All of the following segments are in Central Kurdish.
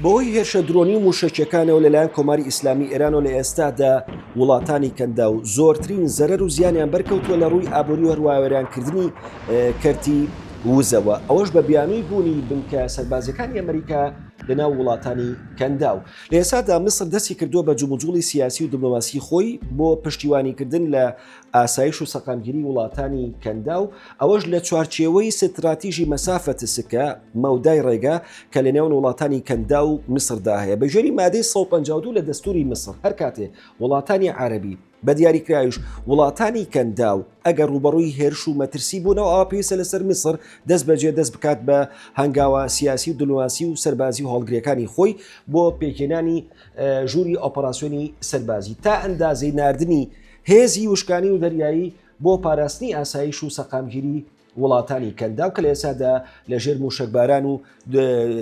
بەهۆی هێرشە درۆنی و مووشەکییەکانەوە لەلایەن کۆماری ئیسلامی ئێرانەوە لە ئێستادا وڵاتانی کەنداو زۆرترین زەرەر و زیانیان بەرکەوتووە لە ڕووی ئابووری هەروە وێرانکردنی کەرتی وزەوە ئەوەش بە بیانووی بوونی بنکە سەربازیەکانی ئەمریکا لەناو وڵاتانی کەندا و لە ئێسادا میسر دەستی کردووە بە جموجوڵی سیاسی و دبلۆماسی خۆی بۆ پشتیوانیکردن لە ئاسایش و سەقامگیری وڵاتانی کەنداو، ئەوەش لە چوارچێوەی ستراتیژی مەسافە تسکە، مەودای ڕێگە، کە لە نێوان وڵاتانی کەنداو و میسردا هەیە. بە گوێری مادەی سەد و پەنجا و دوو لە دەستووری میسر، هەر کاتێ وڵاتانی عەرەبی، بە دیاریکراویش وڵاتانی کەنداو، ئەگەر ڕووبەڕووی هێرش و مەترسی بوونەوە، ئەوا پێویستە لەسەر میسر دەستبەجێ دەست بکات بە هەنگاوە سیاسی و دبلۆماسی و سەربازی و هەڵگرەکانی خۆی بۆ پێکهێنانی ژووری ئۆپەراسیۆنی سەربازی تا ئەندازەی ناردنی هێزی وشکانی و دەریایی بۆ پاراستنی ئاسایش و سەقامگیری وڵاتانی کەنداو کە لە ئێسادا لە ژێر موشەکباران و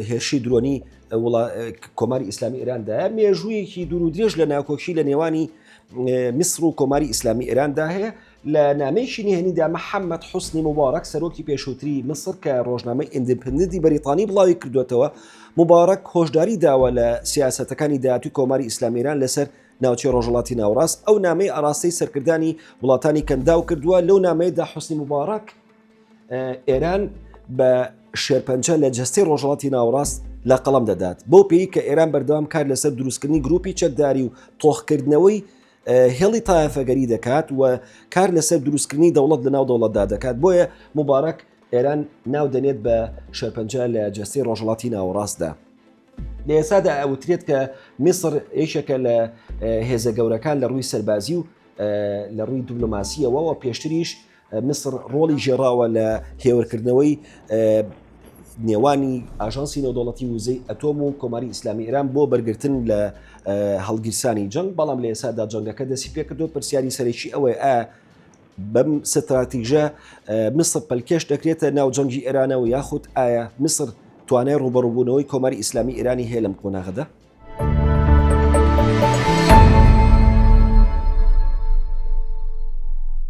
هێرشی درۆنی کۆماری ئیسلامی ئێراندا مێژوویەکی دوور و درێژ لە ناکۆکی لە نێوانی میسر و کۆماری ئیسلامی ئێراندا هەیە لە نامەیەکی نهێنیدا محەممەد حوسنی مبارەک سەرۆکی پێشووتری میسر کە ڕۆژنامەی ئیندپندی بەریتانی بڵاوی کردوێتەوە مبارەک هۆشداری داوە لە سیاستەکانی داهاتوی کۆماری ئیسلامیران لەسەر ناوچەی ڕۆژهەڵاتی ناوەڕاست ئەو نامەی ئاراستەی سەرکردانی وڵاتانی کەنداو کردووە لەو نامەیەدا حوسنی مبارەک ئێران بە شێرپەنجە لە جستەی ڕۆژهڵاتی ناوڕاست لە قەڵم دەدات بۆ پێی کە ئێران بەردەوام کار لەسەر دروستکردنی گروپی چەکداری و تۆخکردنەوەی هێڵی تایەفەگەری دەکات و کار لەسەر دروستکردنی دەوڵەت لە ناو دەوڵەتدا دەکات بۆیە مبارەک ئێران ناو دەنێت بە شەرپەنجە لە جستی ڕۆژهڵاتی ناوەڕاستدا. لە ئێسادا ئەوترێت کە میسر یەکێکە لە هێزە گەورەکان لە ڕووی سەربازی و لە ڕووی دیبلۆماسیەوەەوە پێشتریش میسر ڕۆڵی ژێراوە لە هێورکردنەوەی نێوانی ئاژانسی نێودوڵەتی وزەی ئەتۆم و کۆماری ئیسلامی ئێران بۆ بەرگرتن لە هەڵگیرسانی جەنگ بەڵام لە ئێسادا جەنگەکە دەسی پێکردو پرسیاری سەرەکی ئەوەیە بەم ستراتیژە میسر پەلکێش دەکرێتە ناو جەنگی ئێرانەوە یاخود ئایا میسر توانای ڕوبەڕوبوونەوەی کۆماری ئیسلامی ئێرانی هەیە لەم قۆناغدا؟